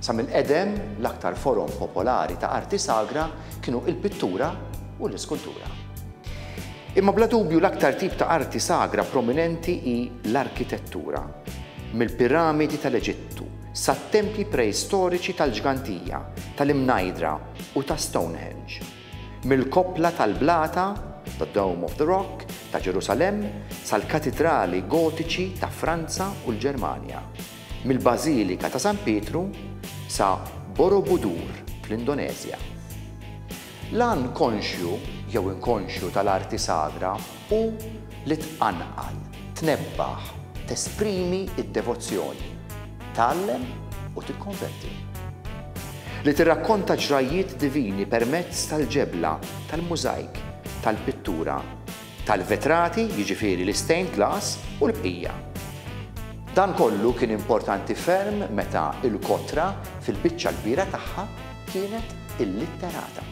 Sa mill-qedem, l-aktar forom popolari ta' arti sagra kienu l-pittura u l-iskultura. Imma bla dubju l-aktar tip ta' arti sagra prominenti hi l-arkitettura, mill-piramidi tal-Eġittu sat-tempji preistoriċi tal-Ġgantija, tal-Imnajdra u ta' Stonehenge, mill-koppla tal-blata, the Dome of the Rock, ta' Ġerusalemm sal-katidrali Gotiċi ta' Franza u l-Ġermanja. mill-Bażilika ta' San Pietru sa Borobudur fl-Indoneżja. L-għan konxju jew inkonxju tal-arti sagra hu li tqanqal, tnebbaħ, tesprimi d-devozzjoni, tgħallem u tikkonverti. Li tirrakkonta ġrajjiet divini permezz tal-ġebla, tal-mużajk, tal-pittura, tal-vetrati, jiġifieri l-istained glass u l-bqija. Dan kollu kien importanti ferm meta l-kotra fil-biċċa l-kbira tagħha kienet illitterata.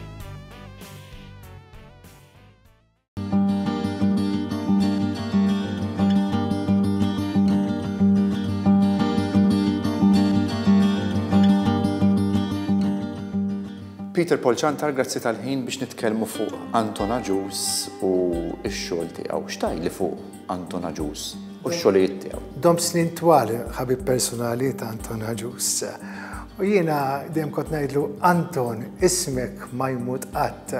Peter Paul Ciantar grazzi tal-ħin biex nitkellmu fuq Anton Agius u x-xogħol tiegħu. X'tgħidli fuq Anton Agius u x-xogħlijiet tiegħu? Dom snin twal ħabib personali ta' Anton Agius. U jiena dejjem kont ngħidlu Anton ismek ma jmut qatt.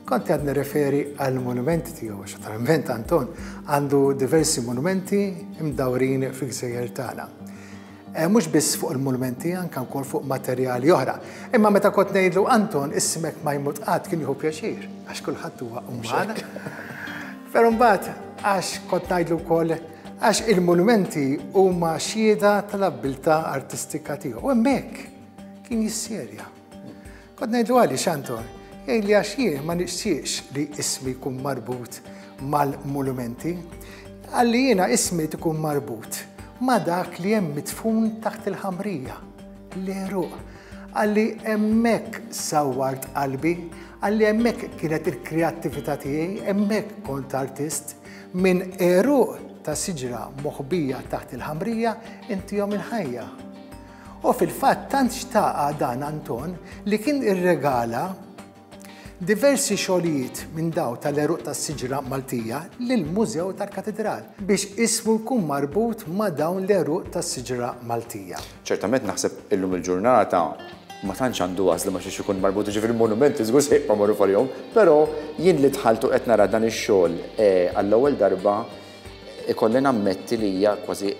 Kont qed nirreferi għal monumenti tiegħu għax naturalment Anton għandu diversi monumenti imdawrin fil-gżejjer tagħna. Eh, mhux biss fuq il-mulmenti, anke wkoll fuq materjali oħra. Imma meta kont ngħidlu Anton, ismek ma jmut qatt kien jieħu pjaċir, għax kulħadd huwa uman. Però mbagħad għax kont ngħidlu wkoll għax il-monumenti huma xhieda tal-abbiltà artistika tiegħu. U hemmhekk kien jisserja. Kod ngħidlu għalli xantor, jgħid li għax jien ma nixtieqx li ismi jkun marbut mal-mulumenti, għalli jiena ismi tkun marbut ma dak li hemm mitfun taħt il-ħamrija, l-eruq, għalli emmek sawart qalbi, għalli emmek kienet il-kreattivita tiegħi, emmek kont artist, minn eruq ta' siġra moħbija taħt il-ħamrija inti jom il-ħajja. U fil-fatt tant xtaqa dan Anton li kien irregala diversi xogħlijiet minn daw tal-eruq tas-siġra Maltija lill-Mużew tal-Katidral biex ismu jkun marbut ma' dawn l-eruq tas-siġra Maltija. Ċertament naħseb illum il-ġurnata ma tantx għandu għażla ma' xiex ikun marbut, jiġifieri l-monumenti żgur se jibqgħu magħruf għalihom, però jien li dħalt u qed nara dan ix-xogħol għall-ewwel darba ikolli nammetti li hija kważi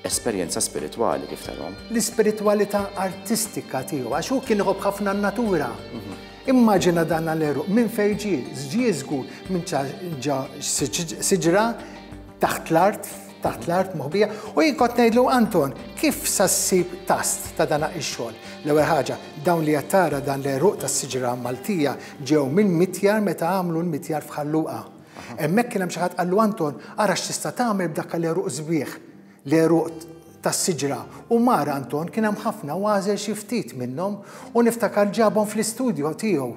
esperjenza spiritwali kif tarhom. L-ispiritwalità artistika tiegħu għax hu kien iħobb ħafna n-natura. Mhm. Immaġina dan l-eruq minn fejn ġie, ġie żgur minn ġa siġra taħt l-art taħt l-art moħbija u jinkot ngħidlu Anton, kif sassib tast ta' dana ix-xogħol? L-ewwel ħaġa, dawn li jattara dan l-eruq tas-siġra Maltija ġew minn mitjar meta għamlu l-mitjar f'ħalluqa. Hemmhekk kien hemm xi ħadd qallu Anton, ara x'tista' tagħmel b'dak l-għeruq sbieħ, l-għeruq tas-siġra. U mar Anton, kien hemm ħafna u għażel xi ftit minnhom u niftakar ġabhom fl-istudjo tiegħu.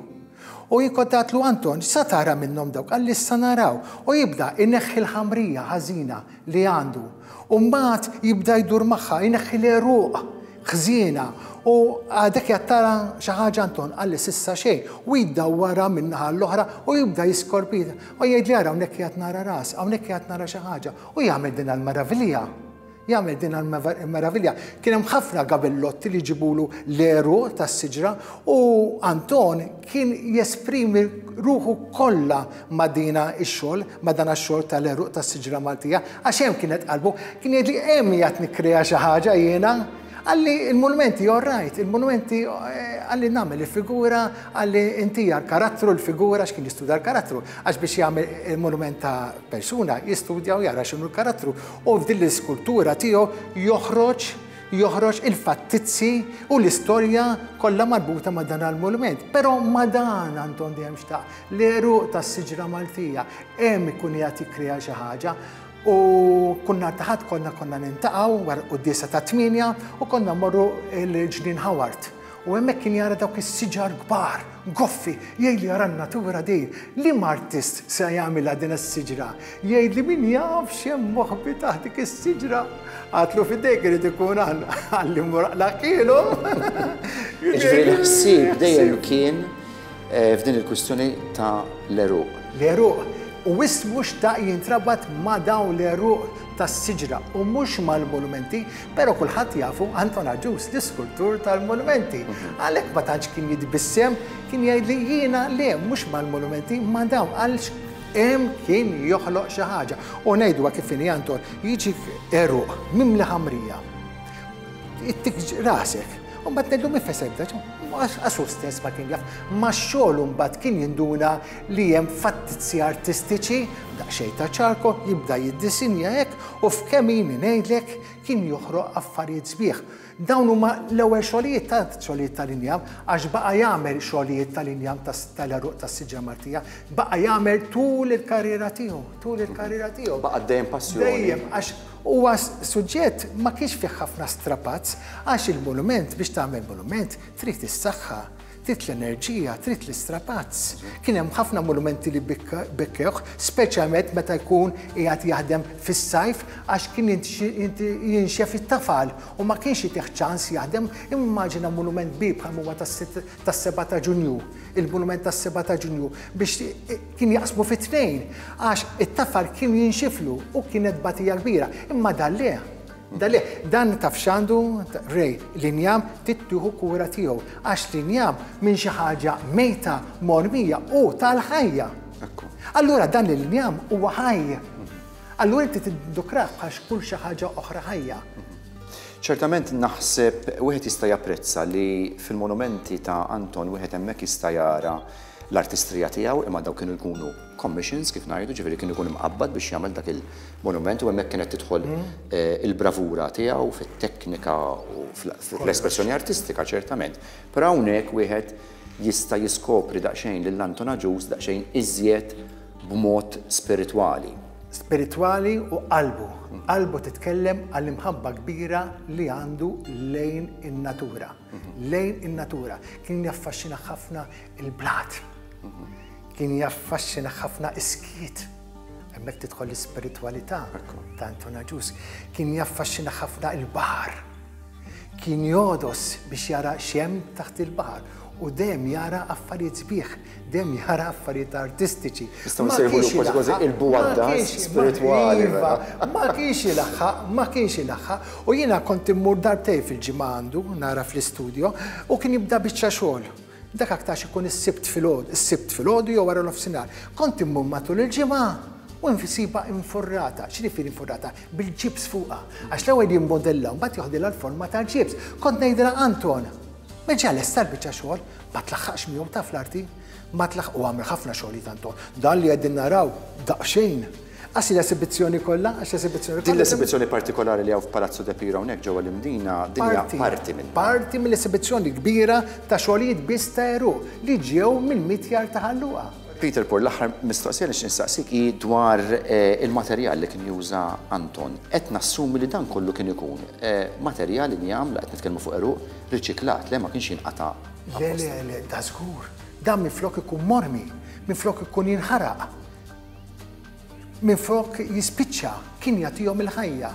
U hi kont għedtlu Anton, x'sa tara minnhom dawk? Qalli issa naraw. U jibda jneħħi l-ħamrija ħażina li għandu. U mbagħad jibda jdur magħha, jneħħi l-għeruq ħżiena u għadek jattara xi ħaġa Anton qalli sissa xejn u jiddawwara min-naħa l-oħra u jibda jiskorpita u jgħidli ara hawnhekk qiegħed nara ras, hawnhekk qiegħed nara xi ħaġa u jagħmel din għall-meravilja. Jagħmel din għall-meravilja. Kien hemm ħafna gabillotti li jġibulu l-għeruq tas-siġra u Anton kien jesprimi ruħu kollha ma' dina x-xogħol, ma' dan x-xogħol tal-għeruq tas-siġra Maltija, għax hemm kienet qalbu, kien jgħidli hemm qiegħed nikkrea xi ħaġa jiena, qalli l-munumenti all right, il-munumenti qalli nagħmel il-figura, qalli intija l-karattru, l-figura għax kien jistudja l-karattru, għax biex jagħmel il-munument ta' persuna jistudja u jara x'inhu l-karattru u f'din l-iskultura tiegħu joħroġ joħroġ il-fattizzi u l-istorja kollha marbuta ma' dan l-monument. Però ma' dan għandhom dejjem xtaq l-eruq tas-siġra Maltija hemm ikun qiegħed jikkrea xi ħaġa u kunna taħat konna konna nintaqgħu wara qudiesa ta' tmienja u konna morru l-ġnien Howard U hemmhekk kien jara dawk is-siġar kbar, goffi, jgħid li jara n-natura di. Liema artist se jagħmilha din is-siġra? Jgħid li min jaf x'hemm moħbi taħt dik is-siġra. Għatlu f'idejk irid ikun għalli muraqlaq kielu. Jiġifieri l-ħsieb dejjem kien f'din il-kwistjoni ta' l-għeruq. L-għeruq, u wisq mhu xtaq jintrabat ma' dawn l-għeruq tas-siġra u mhux mal-monumenti, però kulħadd jafu Anton Agius, l-iskultur tal-monumenti. Għalhekk ma tantx kien jitbissem, kien jgħidli jiena le, mhux mal-monumenti, ma' dawn, għalx hemm kien joħloq xi ħaġa. U ngħidwa kif inhi Anton, jiġi għeruq mimli ħamrija. Ittik rasek, u mbagħad ngħidlu min fesebda, għax hu stess ma kien jaf. Ma xogħol mbagħad kien jinduna li hemm fattizzi artistiċi daqsxejn ta' ċarko jibda jiddisinja hekk u f'kemm jini ngħidlek kien joħroq affarijiet sbieħ. Dawn huma l-ewwel xogħlijiet ta' xogħlijiet tal-injam għax baqa' jagħmel xogħlijiet tal-injam tal-għeruq tas-siġra Maltija, baqa' jagħmel tul il-karriera tiegħu, tul il-karriera tiegħu. Baqa' dejjem passjoni. Dejjem għax Huwa suġġett ma kienx fih ħafna strapazz għax il-monument biex tagħmel monument trid is-saħħa, trid l-enerġija, trid l-istrapazz. Kien hemm ħafna monumenti li bikkewh, speċjalment meta jkun qiegħed jaħdem fis-sajf għax kien jinxef it-tafal u ma kienx itih ċans jaħdem. Immaġina monument kbir bħal ma huwa tas-Seba' ta' Ġunju, il-monument tas-Seba' ta' Ġunju biex Kien jaqsmu fi tnejn għax it-tafar kien jinxiflu u kienet tbatija kbira, imma dan le. Dan le, dan taf x'għandu, Ray, l-injam trid tieħu kura tiegħu għax l-injam minn xi ħaġa mejta mormija hu tal-ħajja. Allura dan l-injam huwa ħajj. Allura inti tiddukrah bħal x'kull xi ħaġa oħra ħajja. Ċertament naħseb wieħed jista' japprezza li fil-monumenti ta' Anton wieħed hemmhekk jista' jara l-artistrija tiegħu imma dawk kienu jkunu commissions kif ngħidu, ġifieri kien ikun imqabbad biex jagħmel dak il-monument u hemmhekk kienet tidħol il-bravura tiegħu fit-teknika u fl-espressjoni artistika ċertament. Però hawnhekk wieħed jista' jiskopri daqsxejn lil Anton Agius daqsxejn iżjed b'mod spiritwali. Spiritwali u qalbu. Qalbu titkellem għall-imħabba kbira li għandu lejn in-natura. lejn in-natura. Kien jaffaxxina ħafna il-blat. Kien jaffaxxina ħafna iskiet. Hemmhekk tidħol l-ispiritwalità ta' Anton Aġus. Kien jaffaxxina ħafna il-baħar. Kien jodos biex jara xem taħt il-baħar u dejjem jara affarijiet sbieħ. Dejjem jara affarijiet artistiċi. Nistgħu nsejħulu kważi kważi il-buaddas spiritwali. Iva, ma kienx ilaħħaq, ma kienx ilaħħaq. U jiena kont immur darbtejn fil-ġimgħa għandu, nara fl-istudjo, u kien jibda biċċa xogħol. Dak aktarx ikun is-Sibt filgħodu, is-Sibt filgħodu jew wara nofsinhar. Kont immur matul il-ġimgħa u nsibha infurrata. X'jiġifieri infurrata? Bil-ġibs fuqha. Għax l-ewwel jimmodella u mbagħad joħdilha l-forma tal-ġibs. Kont ngħidilha Anton, ma ġa lesta l-biċċa xogħol? Ma tlaħħaqx miegħu taf l-arti? Ma tlaħħaq u għamel ħafna xogħlijiet Anton. Dan li qegħdin naraw daqsxejn Għax l-esibizzjoni kollha, għax l-esibizzjoni kollha. Din l-esibizzjoni partikolari li hawn f'Palazzu De Piro hawnhekk ġewwa l-Imdina, din hija parti minn. Parti mill-esibizzjoni kbira ta' xogħlijiet biss ta' eru li ġew mill-mitjar ta' Ħalluqa. Peter Paul, l-aħħar mistoqsija li x'nistaqsik hi dwar eh, il-materjal li kien juża Anton. Qed nassumi li dan kollu kien ikun eh, materjal li jagħmel qed nitkellmu fuq eruq Riċiklat, le ma kienx jinqata' apposta. Le, le, le, da żgur. Dan minflok ikun mormi, minflok ikun jinħaraq, minflok jispiċċa, kien jagħtihom il-ħajja.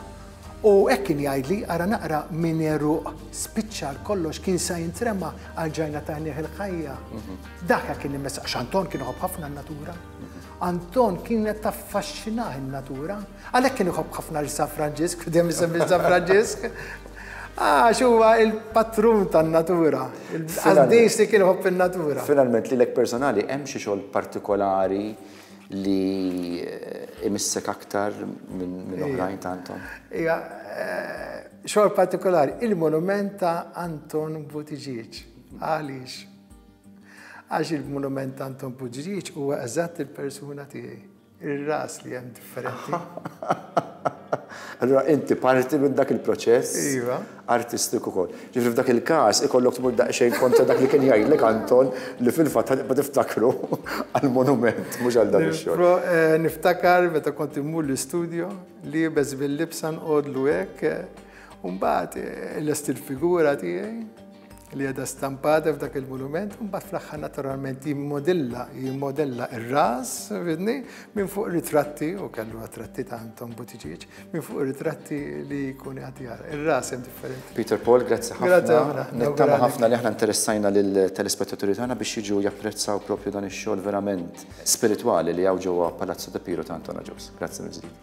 U hekk kien jgħidli, ara naqra minn għeruq spiċċa għal kollox kien sa jintrema għal ġajna ta' għajnejh il-ħajja. Mhm. Dak kien immessa, Anton kien iħobb ħafna n-natura. Mhm. Anton kienet taffaxxinah in-natura. Għalhekk kien iħobb ħafna lil San Franġisk, u dejjem isemmi lil San Franġisk, għax huwa l-patrun tan-natura. Il-qaddis li kien iħobb in-natura. Finalment, lilek personali hemm xi xogħol partikolari li imissek aktar minn oħrajn ta' Anton? Iva, xogħol partikolari, il-monument ta' Anton Buttigieg. Għaliex? Għax il-monument ta' Anton Buttigieg huwa eżatt il-persuna tiegħi. Ir-ras li hemm differenti. Allura inti parti minn dak il-proċess Iva. artistiku wkoll. Ġifieri f'dak il-każ ikollok tmur daqsxejn kontra dak li kien jgħidlek Anton li fil-fatt ħa tibqa' tiftakru għall-monument mhux għal dan ix-xogħol. Nifro- eh, Niftakar meta kont immur l-istudjo, liebes bil-libsa nqogħdlu hekk, eh, u mbagħad eh, lest il-figura tiegħi, li għedha stampata f'dak il-monument, mbagħad fl-aħħar naturalment jimmodilla, jimmodilla ir-ras, vidni, minn fuq ritratti, u kellu ritratti ta' Anton Butiċiċ, minn fuq ritratti li jkun għati għara. Ir-ras hemm differenti. Peter Paul, grazzi ħafna. Nittama ħafna li aħna interessajna lill-telespettaturi tagħna biex jiġu japprezzaw propju dan ix-xogħol verament spiritwali li hawn ġewwa Palazzo de Piro ta' Anton Aġus. Grazzi mill-ġdid.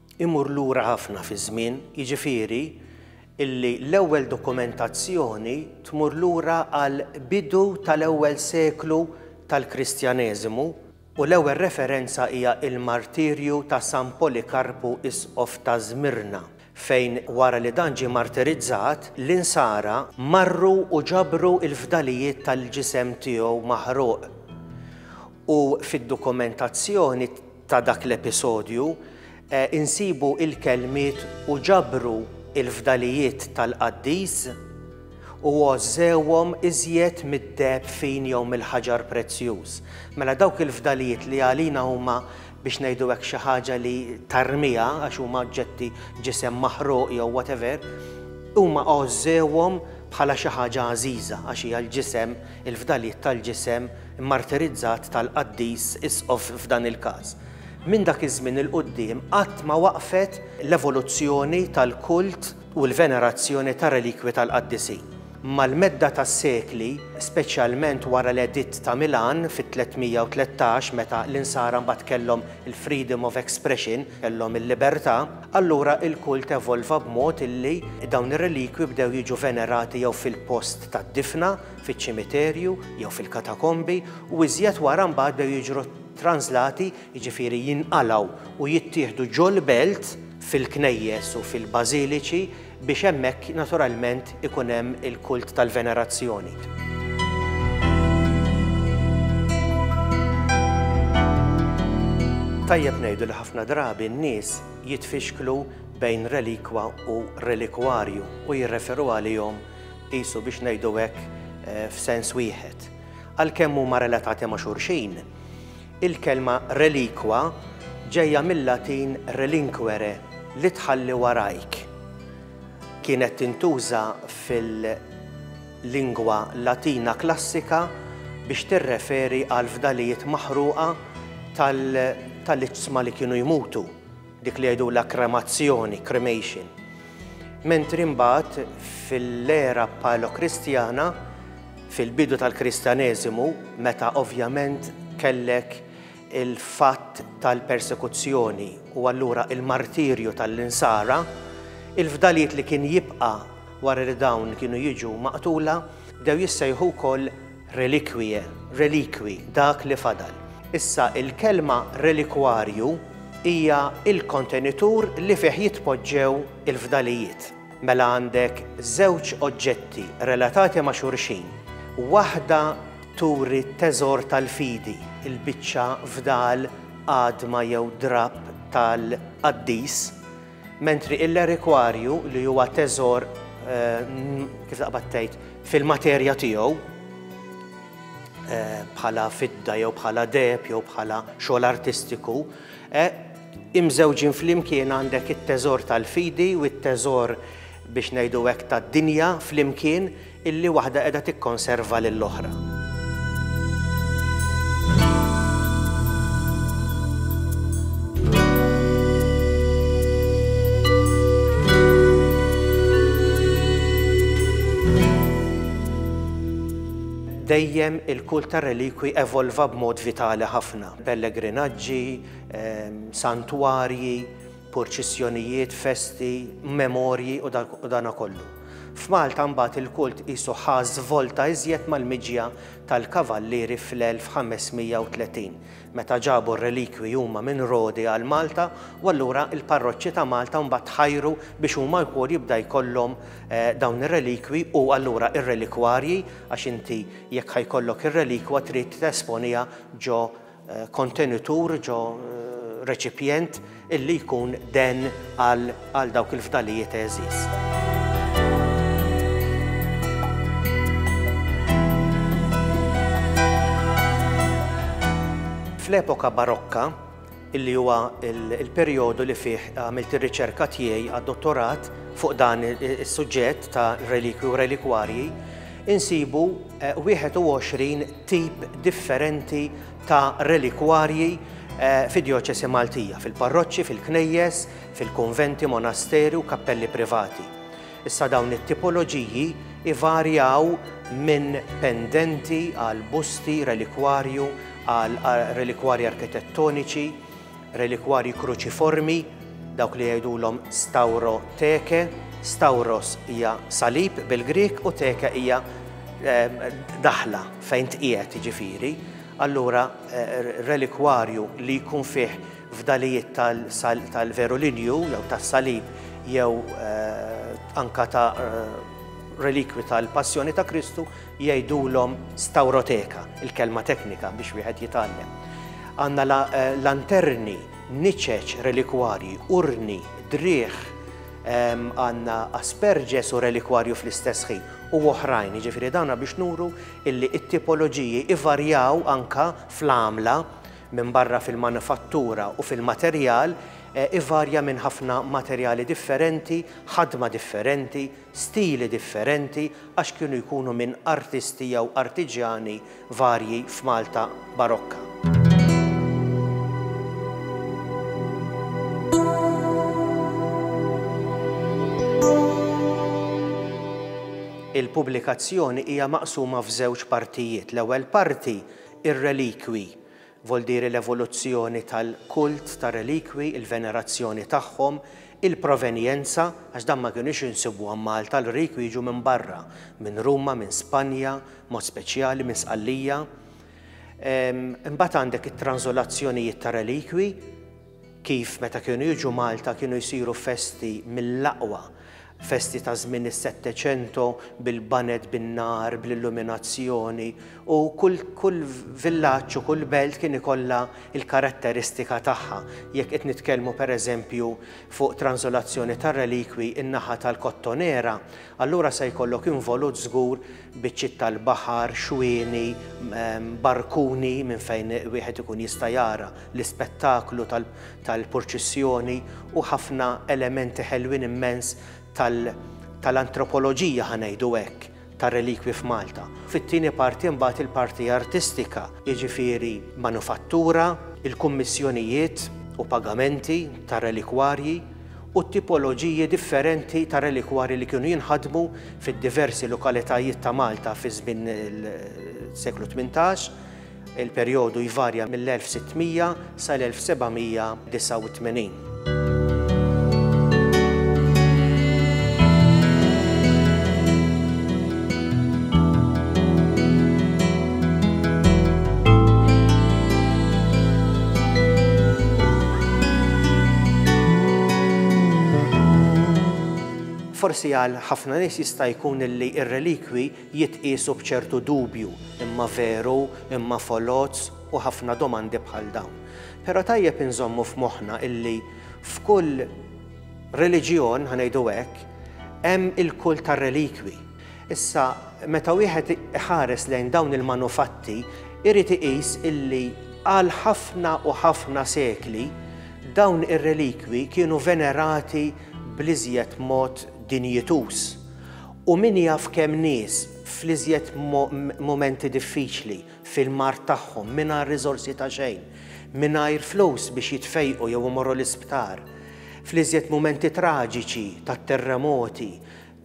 imur lura ħafna fiż-żmien, jiġifieri li l-ewwel dokumentazzjoni tmur lura għall-bidu tal-ewwel seklu tal-Kristjaneżimu u l-ewwel referenza hija l-martirju ta' San Polikarpu Isqof ta' Żmirna, fejn wara li dan ġie martirizzat, l-Insara marru u ġabru l-fdalijiet tal-ġisem tiegħu maħruq. u fid-dokumentazzjoni ta' dak l-episodju insibu l-kelmiet u ġabru l-fdalijiet tal-qaddis u għożżewhom iżjed mid-deheb fin jew mill-ħaġar prezzjuż. Mela dawk il-fdalijiet li għalina huma biex ngħidu hekk xi ħaġa li tarmiha għax huma oġġetti, ġisem maħruq jew whatever, huma għożżewhom bħala xi ħaġa għażiża għax hija l-ġisem, il-fdalijiet tal-ġisem, immartirizzat tal-qaddis Isqof f'dan il-każ. Minn dak iż-żmien 'il quddiem qatt ma waqfet l-evoluzzjoni tal-kult u l-venerazzjoni tar-relikwi tal-qaddisin. Mal-medda tas-sekli, speċjalment wara l-Editt ta' Milan fit-313 meta l-Insara mbagħad kellhom il-freedom of expression, kellhom il-libertà, allura l-kult evolva b'mod illi dawn ir-relikwi bdew jiġu venerati jew fil-post tad-difna, fiċ-ċimiterju jew fil-katakombi u iżjed wara mbagħad bdew jiġru translati, jiġifieri jinqalgħu u jittieħdu ġol-belt fil-knejjes u fil-bażiliċi biex hemmhekk naturalment ikun hemm il-kult tal-venerazzjoni. Tajjeb ngħidu li ħafna drabi n-nies jitfixklu bejn relikwa u relikwarju u jirreferu għalihom qisu biex ngħidu hekk f'sens wieħed. Għalkemm huma relatati ma' xulxin, il-kelma relikwa ġejja mil-Latin relinquere li tħalli warajk. Kienet tintuża fil-lingwa Latina klassika biex tirreferi għal fdalijiet maħruqa tal-iġsma li kienu jmutu. dik li jgħidulha kremazzjoni, cremation, mentri mbagħad fil-era paleokristjana, fil-bidu tal-Kristjaneżimu, meta ovvjament kellek il-fatt tal-persekuzzjoni u allura l-martirju tal-Insara, il-fdalijiet li kien jibqa' wara li dawn kienu jiġu maqtula bdew jissejħu wkoll Reliquie, reliqui, dak li fadal. Issa, il-kelma relikwarju hija l-kontenitur li fih jitpoġġew il-fdalijiet. Mela għandek żewġ oġġetti relatati ma' xulxin. Waħda turi t-teżor tal-fidi, il-biċċa fdal, għadma jew drapp tal-qaddis, Mentri il-relikwarju li huwa teżor kif taqbad tgħid fil-materja tiegħu bħala fidda jew bħala deheb jew bħala xogħol artistiku imżewġin flimkien għandek it-teżor tal-fidi u t-teżor biex ngħidu hekk tad-dinja flimkien illi waħda qiegħda tikkonserva lill-oħra. Dejjem il-kult tar-relikwi evolva b'mod vitali ħafna. Pellegrinaġġi, santwarji, purċissjonijiet, festi, memorji u dana kollu. F'Malta mbagħad il-kult qisu ħa żvolta iżjed mal-miġja tal-Kavallieri fl-1530, meta ġabu r-relikwi huma minn Rodi għal Malta u allura l-parroċċi ta' Malta mbagħad tħajru biex huma wkoll jibda jkollhom dawn ir-relikwi u allura r-relikwarji għax inti jekk ħa jkollok ir-relikwa trid tesponiha ġo kontenitur, ġo reċipjent illi jkun den għal dawk il-fdalijiet għeżież. Fl-epoka Barokka, illi huwa l-perjodu li fih għamilt ir-riċerka tiegħi għad-dottorat fuq dan is-suġġett ta' relikwi u relikwarji, insibu 21 tip differenti ta' relikwarji fid-djoċesi Maltija, fil-parroċċi, fil-knejjes, fil-kunventi, monasteri u kappelli privati. Issa dawn it-tipoloġiji ivarjaw minn pendenti għal busti, relikwarju, għal relikwarji arkitettoniċi, Relikwarji kruċiformi, dawk li jgħidulhom stauro teke, stauros hija salib bil-Grieg u teke hija ehm, daħla fejn tqiegħed jiġifieri. Allura eh, relikwarju li jkun fih fdalijiet tal-veru linju jew tas-salib jew eh, anka ta' eh, relikwi tal-passjoni ta' Kristu jgħidulhom stawroteka, il-kelma teknika biex wieħed jitgħallem. Għandna lanterni, niċeċ, relikwarji, urni, driegħ, għandna asperges u relikwarju fl-istess ħin, u oħrajn, jiġifieri dawna biex nuru illi t-tipoloġiji ivarjaw anke fl-għamla minbarra fil-manifattura u fil-materjal, ivarja minn ħafna materjali differenti, ħadma differenti, stili differenti għax kienu jkunu minn artisti jew artiġjani varji f'Malta barokka. Il-pubblikazzjoni hija maqsuma f'żewġ partijiet, l-ewwel parti, ir-relikwi, Voldiri l-evoluzzjoni tal-kult tar-relikwi, il-venerazzjoni tagħhom, il-provenjenza, għax dawn ma kinux insibuhom Malta, l-relikwi jiġu minn barra, minn Ruma, minn Spanja, b'mod speċjali minn Sqallija. Imbagħad għandek it-tranżolazzjonijiet tar-relikwi. Kif meta kienu jiġu Malta kienu jsiru festi mill-aqwa, festi ta' żmien is-Setteċento bil-baned bin-nar, bl-illuminazzjoni u kull kull villaġġ u kull belt kien ikollha l-karatteristika tagħha, jekk qed nitkellmu per eżempju fuq tranżolazzjoni tar-relikwi n-naħa tal-Kottonera, allura se jkollok involut żgur biċċiet tal-baħar, xwieni, barkuni minn fejn wieħed ikun jista' jara l-ispettaklu tal-purċissjoni u ħafna elementi ħelwin immens tal-antropoloġija, ħa ngħidu hekk, tar-relikwi f'Malta. Fit-tieni parti mbagħad il-parti artistika, jiġifieri manufattura, il-kummissjonijiet u pagamenti tar-relikwarji, u t-tipoloġiji differenti ta' relikwarji li kienu jinħadmu fid-diversi lokalitajiet ta' Malta fi żmien is-seklu tmintax, il-perjodu jvarja mill-1600 sal-1789. Forsi għal ħafna nies jista' jkun li r-relikwi jitqiesu b'ċertu dubju, imma veru, imma foloz u ħafna domandi bħal dawn. Però tajjeb inżommu f'moħħna illi f'kull Reliġjon, ħa ngħidu hekk, hemm il-kult tar-relikwi. Issa, meta wieħed iħares lejn dawn il-manufatti, irid iqis illi għal ħafna u ħafna sekli dawn ir-relikwi kienu venerati bl-iżjed mod dinjituż. U min jaf kemm nies, fl-iżjed mumenti diffiċli, fil-mard tagħhom, mingħajr riżorsi ta' xejn, mingħajr flus biex jitfejqu jew imorru l-isptar, fl-iżjed mumenti traġiċi tat-terremoti,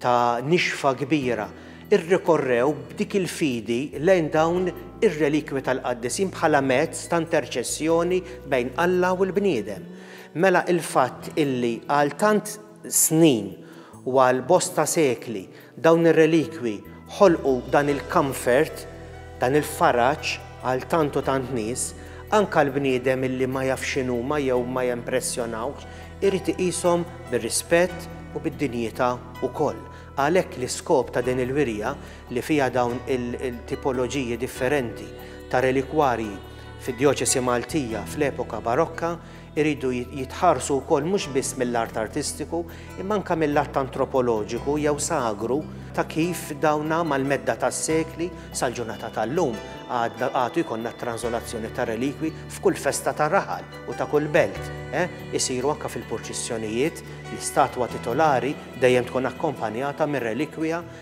ta' nixfa kbira, irrikorrew b'dik il-fidi lejn dawn ir-relikwi tal-qaddisin bħala mezz ta' interċessjoni bejn Alla u l-bniedem. Mela il-fatt illi għal tant snin u għal bosta sekli Dawn ir-relikwi ħolqu dan il-comfort, dan il-faraġ għal tant u tant nies, anke l-bniedem illi ma jafx x'inhuma jew ma jempressjonawhx irid iqishom bir-rispett u bid-dinjità wkoll. Għalhekk l-iskop ta' din il-wirja li fiha dawn il-tipoloġiji differenti ta' relikwarji fid-djoċesi Maltija fl-epoka Barokka iridu jitħarsu wkoll mhux biss mill-art artistiku, imma anke mill-art antropoloġiku jew sagru ta' kif dawna mal-medda tas-sekli sal-ġurnata tal-lum għadna għadu jkollna t-tranżolazzjoni tar-relikwi f'kull festa ta' raħal u ta' kull belt, eh, isiru anke fil-purċissjonijiet, l-istatwa titolari dejjem tkun akkompanjata mir-relikwija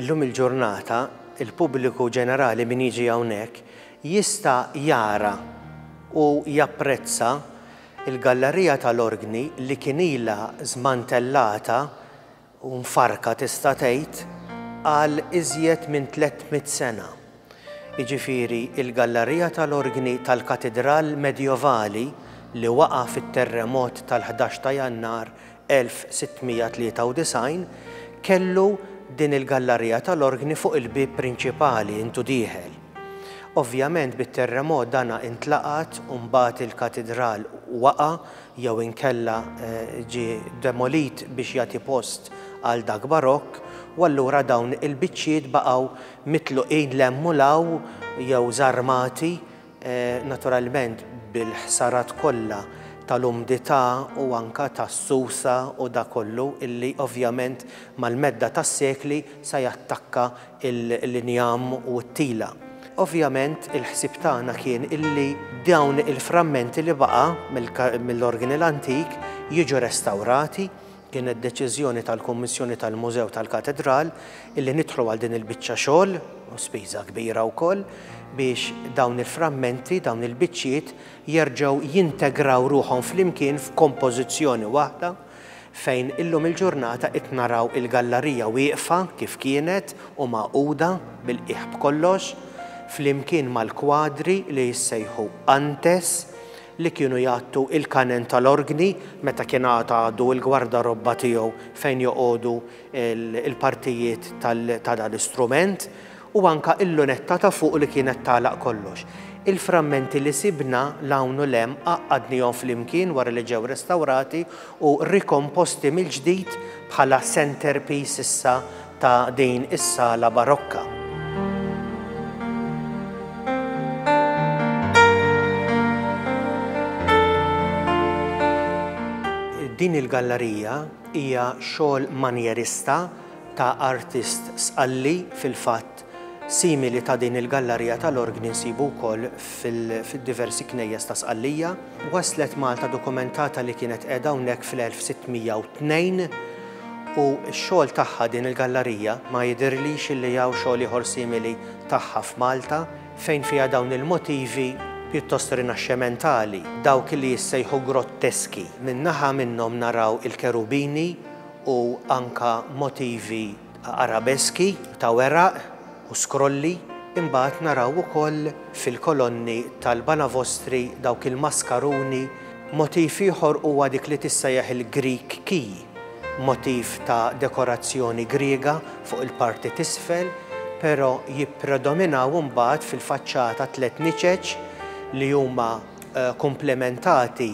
Illum il-ġurnata, il-pubbliku ġenerali, min jiġi hawnhekk, jista' jara u japprezza l-gallarija tal-orgni li kien ilha żmantellata u mfarrka tista' tgħid għal iżjed minn 300 sena. jiġifieri l-gallarija tal-orgni tal-katidral Medjevali li waqa' fit-terremot tal-ħdax ta' Jannar 1693, kellu din il-gallarija tal-orgni fuq il-bieb prinċipali intu dieħel. Ovvjament bit-terremot dana intlaqat u mbagħad il-katidral waqa' jew inkella ġie demolit biex jagħti post għal dak Barokk u allura dawn il-biċċiet baqgħu mitluqin 'l hemm u 'l hawn jew żarmati, naturalment bil-ħsarat kollha tal-umdità u anke tas-susa u dak kollu illi ovvjament mal-medda tas-sekli se jattakka l-injam u t-tila. Ovvjament il-ħsieb tagħna kien illi dawn il-frammenti li baqa' mill-Orginal Antik jiġu restawrati Kienet deċiżjoni tal-Kummissjoni tal-Mużew tal-Katedral illi nidħlu għal din il-biċċa xogħol, u spiża kbira wkoll, biex dawn il-frammenti, dawn il-biċċiet jerġgħu jintegraw ruħhom flimkien f'kompożizzjoni waħda fejn illum il-ġurnata qed naraw il-gallarija wieqfa kif kienet u magħquda bil-qiegħ b'kollox, flimkien mal-kwadri li jissejħu Antes, li kienu jgħattu il-kanen tal-orgni meta kien għad għadu l-gwardarobba tiegħu fejn joqogħdu l-partijiet ta' dan l-istrument, u anke il-lunetta ta' fuq li kienet tagħlaq kollox. Il-frammenti li sibna 'l hawn u 'l hemm għaqqadnihom flimkien wara li ġew restawrati u rikomposti mill-ġdid bħala centerpiece issa ta' din is-sala barokka. Din il-gallarija hija xogħol manjerista ta' artist Sqalli fil-fatt Simili ta' din il-gallarija tal-orgni nsibu wkoll fil-diversi knejjes ta' Sqallija. Waslet Malta dokumentata li kienet qiegħda hawnhekk fil-1602 u x-xogħol tagħha din il-gallarija ma jidhirlix illi hawn xogħol ieħor simili tagħha f'Malta fejn fiha dawn il-motivi pjuttost rinaxxementali, dawk illi jissejħu grotteski. Minn naħa minnhom naraw il-kerubini u anka motivi Arabeski ta' weraq u skrolli, imbagħad naraw ukoll fil-kolonni tal-banavostri dawk il-maskaruni. Motiv ieħor huwa dik li tissejjaħ il-Greek key, motiv ta' dekorazzjoni Griega fuq il-parti t'isfel, però jippredominaw imbagħad fil-faċċata tliet niċeċ li huma komplementati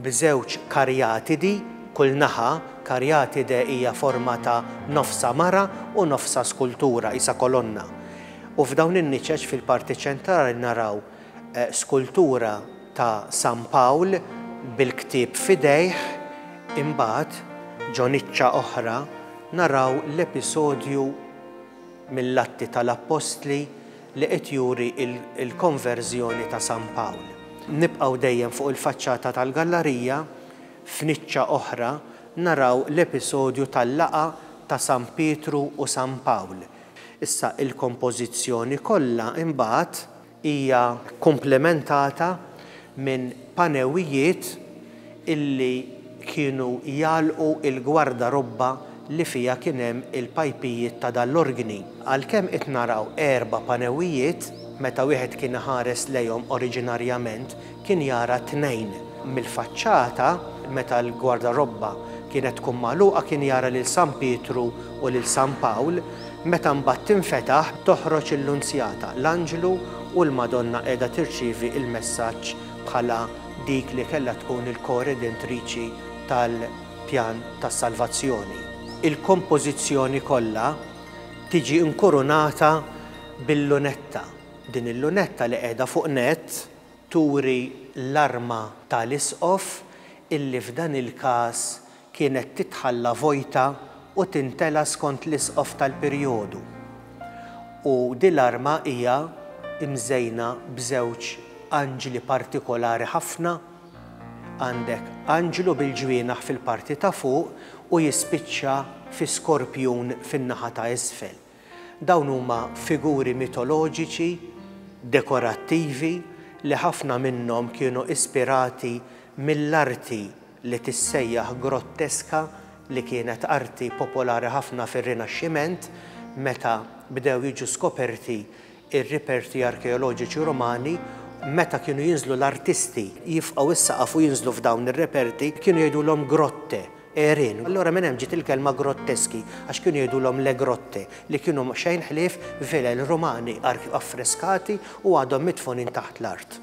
b'żewġ karjatidi kull naħa, karjatide hija forma ta' nofsha mara u nofsha skultura, qisha kolonna. U f'dawn in-niċeċ fil-parti ċentrali naraw skultura ta' San Pawl bil-ktieb f'idejh, imbagħad, ġo niċċa oħra, naraw l-episodju mill-Atti tal-Appostli li qed juri l-Konverżjoni ta' San Pawl. Nibqgħu dejjem fuq il-faċċata tal-gallarija, f'niċċa oħra naraw l-episodju tal-laqgħa ta' San Pietru u San Pawl. Issa il-kompożizzjoni kollha imbagħad hija komplementata minn panewijiet illi kienu jagħlqu il-gwardarobba li fiha kien hemm il-pajpijiet ta' dan l-organi. Għalkemm qed naraw erba' panewijiet, meta wieħed kien iħares lejhom oriġinarjament kien jara tnejn. Mill-faċċata, meta l-gwardarobba kienet tkun magħluqa kien jara lil San Pietru u lil San Pawl, meta mbagħad tinfetaħ toħroġ il-Lunzjata, l-Anġlu u l-Madonna qiegħda tirċievi l-messaġġ bħala dik li kellha tkun il-koredentriċi tal-pjan ta' salvazzjoni. Il-kompożizzjoni kollha tiġi inkurunata bil-lunetta. Din il-lunetta li qiegħda fuq nett turi l-arma tal-Isqof illi f'dan il-każ kienet titħalla vojta u tintela skont l-isqof tal-perjodu, u din l-arma hija mżejna b'żewġ anġli partikolari ħafna, għandek anġlu bil-ġwienaħ fil-parti ta' fuq u jispiċċa fi skorpjun fin-naħa ta' isfel. Dawn huma figuri mitoloġiċi dekorattivi li ħafna minnhom kienu ispirati mill-arti li tissejjaħ grotteska li kienet arti popolari ħafna fir-Rinaxximent meta bdew jiġu skoperti Ir-riperti arkeoloġiċi Rumani, meta kienu jinżlu l-artisti jifqgħu s-saqaf u jinżlu f'dawn ir-riperti, kienu jgħidulhom grotte, għerien. Allura minn hemm ġiet il-kelma grotteschi, għax kienu jgħidulhom le grotte, li kienu xejn ħlief vilel Rumani affreskati u għadhom midfunin taħt l-art.